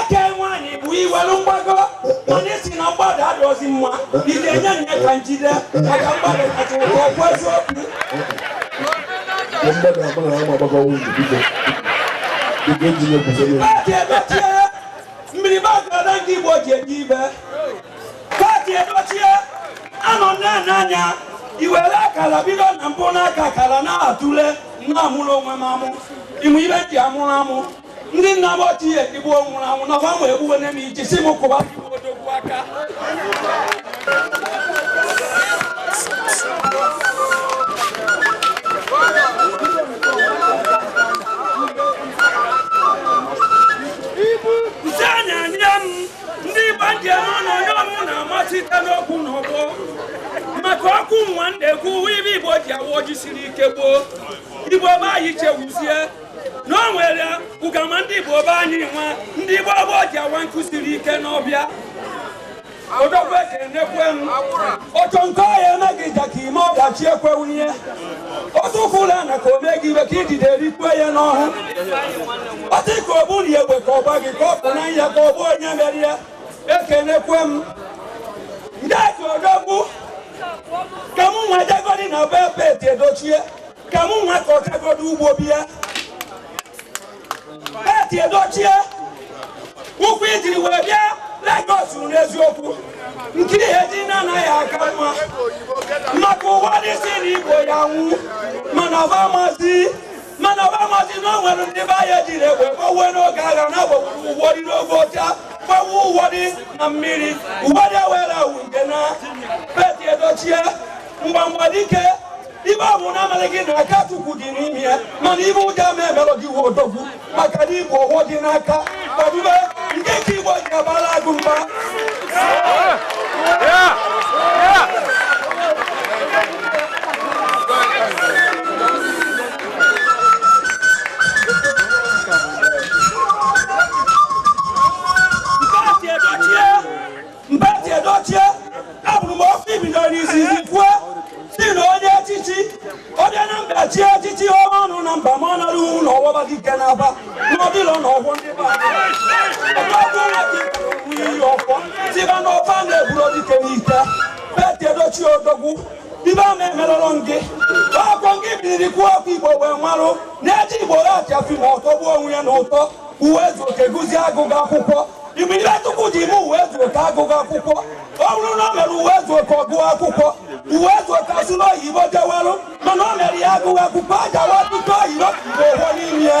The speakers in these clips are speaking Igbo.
eke nwaanyị bụ iwelu mgbago mana isi na mgbada adọzi mma ị ga-enye nye ka njide maka mgbada kacha ụkọ okwu eziokwu Ndị na-agba na ama agbakọ nwunye biko. Biko eji nye kwụsị n'elu. Pete Edochie mmiri bagada ndị igbo ji eji ibe Pete Edochie anọ nne n'anya i were akara bido na mbụ n'aka akara na-atụle na-amụrụ onwe m amụ ịmụ ibe ji amụrụ amụ ndị nna m ochie igbo nwụrụ anwụ na ọgbanwe egbuwe nne m iji si m kụwa igbo odogwu aka ise anya anya m ndị igbo ji eme ọnụ onye ọnụ na-amasite n'okwu na ọgbọ maka ọkụ nwa m na-ekwu ife igbo ji awa ọjị siri ike gboo igbo be anyị chewuzie na o nwere ụgama ndị Igbo be anyị nwa ndị Igbo ọgbọ ji awa nkụ siri ike n'ọfịa odogwu ekenekwe m otu nke ọ ya-eme gị ja ka ime ọdachi ekwe wunye o tukwulu ana ka o mee gị ife ka idide rikwe ya n'ọhụ otu ka o buru ya egbe ka ọ gba gị ka ọ pụ na ya ka o gbuo onye mere ya ekenekwe m ndị aka odogwu ka mụ nwa jegodi na be Pete Edochie ka mụ nwa ka ọ gagodo ugbo bịa Pete Edochie ụkwụ i jiri wee bịa Lagos n'eziokwu nke i ya-eji naa ya-aka mma maka ụwa dị si na igbo ya nwụ mana ọba mazi mana ọba mazi na o nwere ndị be anyị ejiri egbe gbawe n'oge agha na agbagburu ụwọ dị n'oge ọcha gbawe ụwọ dị na mmiri ụwa dị ewere awụ nke na Pete Edochie mgbamgba dike ife ọ bụna amalị gị na aka chukwu dị n'ime ya mana ife ọjọọ ama emelụ gị wụ odogwu maka na igbo ọhụụ dị n'aka kwadube nke ka igbo ji abala agụ mba Pete Edochie abụrụ m okwu i bido n'izizi kwue si na onye echichi onye Anambra chi echichi ọma ọnụ na mba ma ọ nara uwu na ọwọba gị ike n'aba na ọdịlọ na ọgwọ ndị be anyị. Ọgwụ ọgwụ nwa gị bụ iyi ọfọ tiba na ọfa na-eburu dike n'ite Pete Edochie odogwu ife ama emerụrụ gị ọ kwa gị biriri kwuo okwu igbo wee marụ na e ji igbo actịa film ọ tọgbuo onwe ya na ụtọ ụwa ezu oke gụzie agụgụ akwụkwọ Ị ma ife Chukwu ji me Uwaezuoke agụghị akwụkwọ ọ bụrụ na o mere Uwaezuoke ọ gụọ akwụkwọ Uwaezuoke asụ n'oyibo jewelụ mana o mere ya agụghị akwụkwọ aja wa tutu oyibo Igbo ụgwọ n'ime ya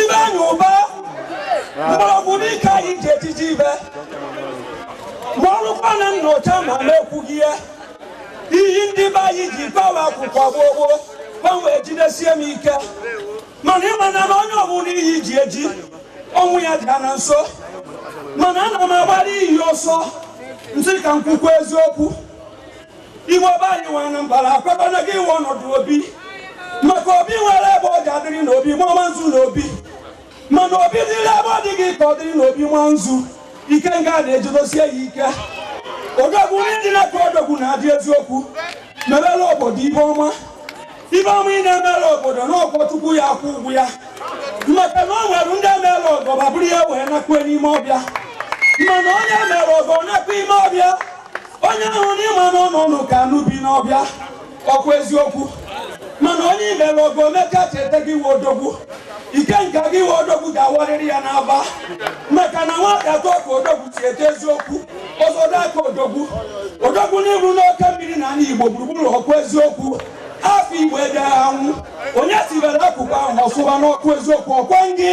Ifeanyị Ụba mgbọrọgwụ n'ike iyi ji ejide ife ma ọ bụkwa na nnọcha ma na-ekwughị ya iyi ndị be anyị ji gbawa akwụkwọ gboo gboo gba m wee jidesie m ike mana ị ma na onye ọbụla iyi ji eji ọnwụ ya dị na nso mana ana m agbara iyi ọsọ m sị ka m kwukwa eziokwu Igbo be anyị nwe Anambra akwekwana gị iwe ọnọdụ obi maka obi nwere ebe ọ ga-adịrị n'obi mama nzu n'obi mana obi dịrị ebe ọ dịghị ka ọ dịrị n'obi ma nzu ike nga na-ejidosie ya ike odogwu ndị dị na-ekwu odogwu na-adị eziokwu mebere obodo ife ọma ife ọma ị na-emere obodo n'ọkwa Chukwu ya-akwụ ụgwọ ya maka na o nwere ndị emere ọgọ fa buru ya wee nakwa n'ime ọfịa mana onye mere ọgọ nakwa ime ọfịa onye ahụ n'ịma na ọ nọ ụlọ ka anụ bi n'ọfịa ọkwa eziokwu mana onye i mere ọgọ o mecha cheta gị iwe odogwu ike nka gị iwe odogwu ga-awarịrị ya n'aba maka na nwata etoo ka odogwu si eto eziokwu ọzọdọ aka odogwu odogwu n'iru n'oke mmiri na ala igbo gburugburu ọkwa eziokwu afọ igbo ejeghị anwụ onye sibere akụkụ ahụ ọsụba n'ọkụ eziokwu ọkwa ngị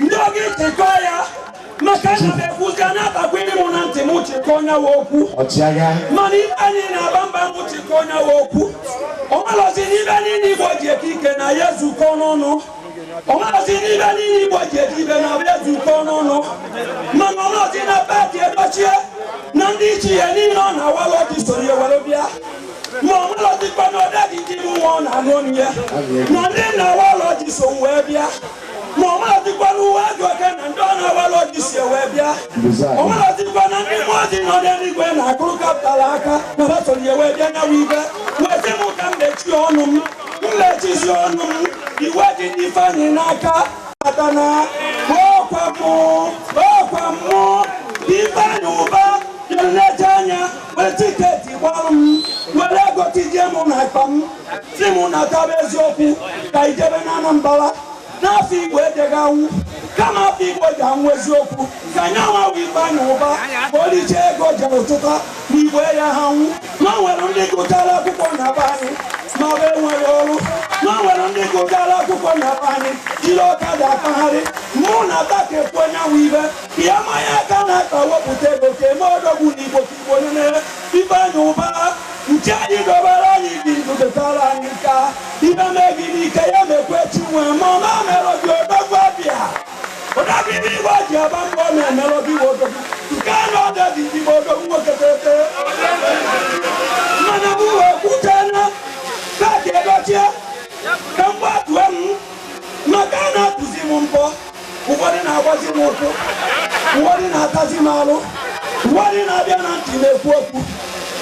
ndị oge ịchịkọ ya maka na m ekwuzi a na-atakwiri mụ na ntị m chịkọ onye wa okwu mana Ifeanyị na-aba mba m chịkọ onye wa okwu ọ malọzi n'ife niile igbo ji eke ike na ya zukọ n'ọnụ ọ malọzi n'ife niile igbo ji eji ife na abịa zukọ n'ọnụ mana ọ malọzi na Pete Edochie na ndị ichie ya niile ọ na-awala ọjị soro ya were bịa ma ọ malọzikwa na ọdadị dị nwa ọ na-anụ ọnụ ya na ndị na-awala ọjị so wee bịa ma ọ malọzikwa na Uwaezuoke na ndị ọ na-awala ọjị so wee bịa ọ malọzikwa na ndị mmụọ ozi nọ n'eluigwe na-akụrụ Capital aka na fa soro ya wee bịa nyawa ibe wee sị m ka m mechie ọnụ m m mechizie ọnụ m iwe dị n'ifeanyị n'aka maka na ọkwa mụ ọkwa mụ Ifeanyị Ụba na-ele anya were tiketi gbarụ m were ego tijie m na akpa m sị m nataba eziokwu ka i jebe na anambara n'afọ igbo ejeghị anwụ kama afọ igbo ji anwụ eziokwu ka anyị anwawa ifeanyị ụba ka o richa ego jere ụtụta na igbo ya ha nwụ ma nwere ndị gụtara akwụkwọ na be anyị ma ọ bụ enweghị ọrụ ma nwere ndị gụtara akwụkwọ na be anyị jiri ọkada akpagharị mụ na ata ka ekwu onye anwụ ibe ka ya manya aka na-akpa wepụta ego ka eme odogwu na igbo nine ifeanyị ụba nke anyị dobere anyị gị ndụ detara anyị nka ife mee gị n'ike ya mekwe chi nwe ma ọ na-emerọ gị odogwu abịa odogwu igbo ji aba mba ọ na-emerọ gị ị wụ odogwu chukwu anọdo gị ị wụ odogwu nwoke tete mana m wee kwute na pete edochie ka mgbe atụ inu maka a na-atụzi m mbọ ụfọdụ na-agbazi m ụkwụ ụfọdụ na-atazi m alụ ụfọdụ na-abịa na ntị na-ekwu okwu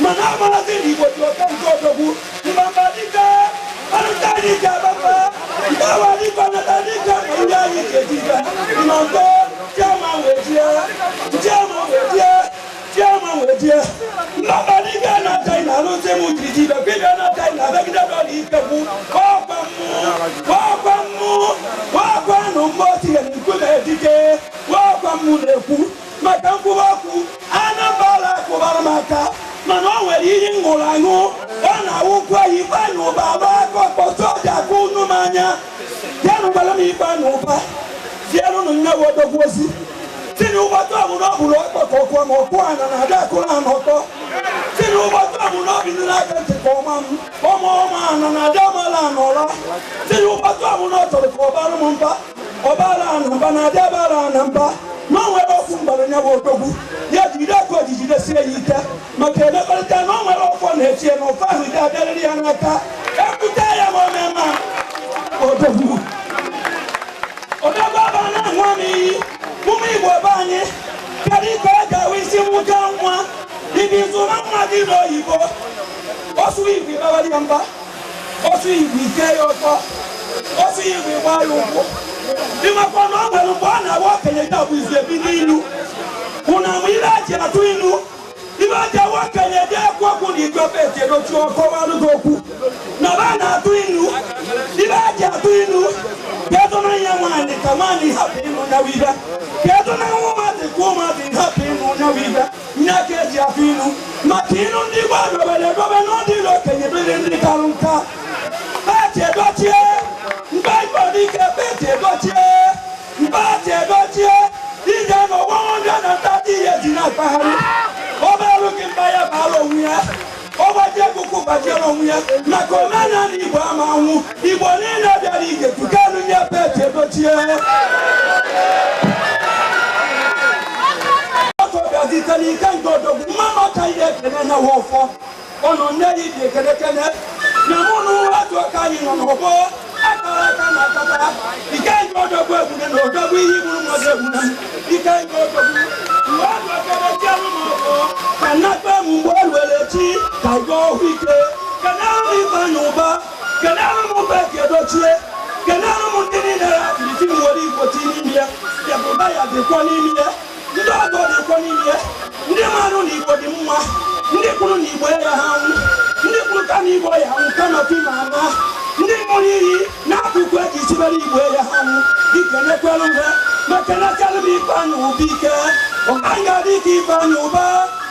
mana amarazi na ị wụ odogwu ka nke odogwu mbamba dike ọrụta dike bamba mgbawa dike ọnata dike ndị anyị ga-eji ga nọ nko chi ama wee jie chi ama wee jie chi ama wee jie mbamba dike na china alụzi m jiri ji ibe gị bịa na china abịagide dọla ike kwu ọkwa mmụ ọkwa mmụ ọkwa nụ mgbe o tinyere nkume dike ọkwa mmụ na-ekwu maka nkwụwa okwu anambala kwụbara m aka mana o nwere iyi ṅụrụ aṅụ ọ na-awụkwa ifeanyị ụba abụ akpọkuo soja ka unu m anya jeenụ gwara m ifeanyị ụba zienụnụ nya wụ odogwu ọ sị tinye ụgbọtọ ọ bụ na ọ bụrụ ọkpọ ka ọ kụọ m ọ kụọ ana na ada akụrụ ana ọkpọ tinye ụgbọtọ ọ bụ na ọ bụ nile aka ntị ka ọ maa m ọ maa ọ maa ana na ada amala ana ọla tinye ụgbọtọ ọ bụ na ọ chọrọ ka ọ baara m mba ọ baara ana mba na ada abara ana mba ma nwere okwu m gwara nya wụ odogwu ya jide ka o ji jidesie ya ike maka emekọrịta na o nwere ọfọ na-echie na ọfọ ahụ ga-abịarịrị ya n'aka ekwute ya ma o mee ma odogwu odogwu aba na-aṅụ m iyi ụmụ igbo be anyị kedu ka ọ ga-awụ ị si mụta nwa ị bịa zụọ nwa gị n'oyibo ọ sụọ igbo ị baara ya mba ọ sụọ igbo ị kee ya ọkpọ ọ sụọ igbo ị gbaa ya ụkwụ ị makwa na ọ nwere mgbe ọ na-awa okenye ga-abụ izi ebi n'ilu hụ na mgbe ire ji atụ ilu ibe aja nwa okenye dị ekwu okwu na igbo pete edochie ọ kọwalụ gị okwu na ba na-atụ inu igbo ja-atụ inu ka ezonahụ nwaanyị ka nwaanyị hapụ ịnụ nya wụ ife ka ezonahụ ụmụazị ka ụmụazị hapụ ịnụ nya wụ ife nya ka eji atụ inu maka inu ndị igbo adobere edobe n'ọdịrị okenye dịrị ndị karụ nka pete edochie ebubedike pete edochie Mkpaghachi edochie ị je-anọ one hundred and thirty years na-akpagharị ọ baara gị mba ya baala onwe ya ọ gbajie ekuku gbajiere onwe ya maka omenala Igbo ama-anwụ Igbo niile bịara ije tukanụ nye Pete Edochie ọtọ bịazitere ike nke odogwu mmanụ ọka ihe ekele na wọfọ ọnụ nne gị dị ekelekele na mụ na ụwa dị ọka anyị nọ n'ọgbọ akara aka na akata ike nke odogwu egbune na odogwu ihe igburu mmadụ egbune ike nke odogwu mgbe ọ dọkere chi anụ m ọkụ ka nnakpa emu mgbe ọ ruere chi ka ịga ọhụ ike kenere m Ifeanyị Ụba kenere m Pete Edochie kenere m ndị niile ya kiri chi m were Igbo dị n'ime ya ya bụ ụba ya dịkwa n'ime ya ndị ọgọ dịkwa n'ime ndị marụ na igbo dị mma ndị kwuru na igbo ya ha nwụ ndị kwuru ka na igbo ya nwụ kama fim ama ndị ṅụrụ iyi n'akụkụ eji sibere igbo ya ha nwụ dike nekwere uwe ma kenekwalụ m Ifeanyị Ụba ike ụba nga dịka Ifeanyị Ụba